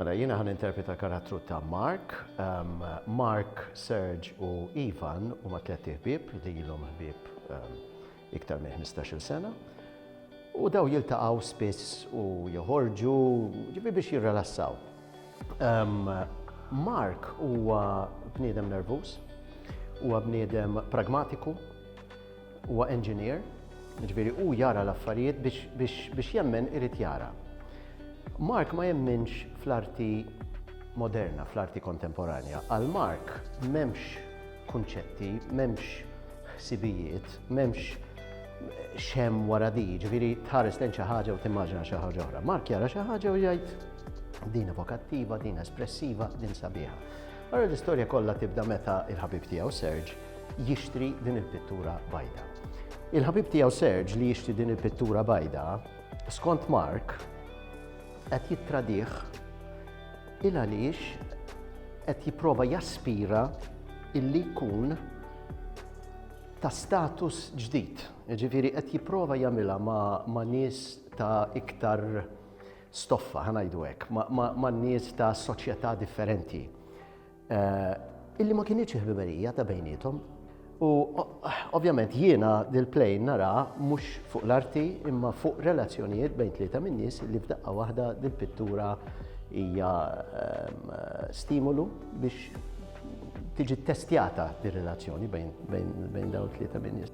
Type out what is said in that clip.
Mela jiena ħan interpreta karattru ta' Mark. Um, Mark, Serge u Ivan huma tliet ħbieb li jilhom ħbieb um, iktar minn 15-il sena. U daw jiltaqgħu spiss u joħorġu ġifi biex jirrelassaw. Um, Mark huwa bniedem nervuż, huwa bniedem pragmatiku, Huwa engineer, ġifieri hu jara l-affarijiet biex jemmen irid jara. Mark ma jemminx fl-arti moderna, fl-arti kontemporanja. Għal Mark m'hemmx kunċetti, m'hemmx ħsibijiet, m'hemmx xem wara di, ġviri tħares lejn xi ħaġa u timmaġina xi ħaġa oħra. Mark jara xi ħaġa u jgħid din evokattiva, din espressiva, din sabiħa. Għara l-istorja kollha tibda meta il-ħabib tiegħu Serge jixtri din il-pittura bajda. Il-ħabib tiegħu Serge li jixtri din il-pittura bajda, skont Mark, qed jittradih il għaliex qed jipprova jaspira illi jkun ta' status ġdid. Ġifiri qed jipprova jagħmilha ma', ma nies ta' iktar stoffa, ħanajdu hekk, ma, ma, ma nies ta' soċjetà differenti. Eh, illi ma kienieċ ħbiberija ta' bejnietom. U ovvjament jiena dil-plejn nara mhux fuq l-arti imma fuq relazzjonijiet bejn tlieta minn nies li f'daqqa waħda dil-pittura hija ehm, stimulu biex tiġi testjata dir relazzjoni bejn dawn tlieta minn nies.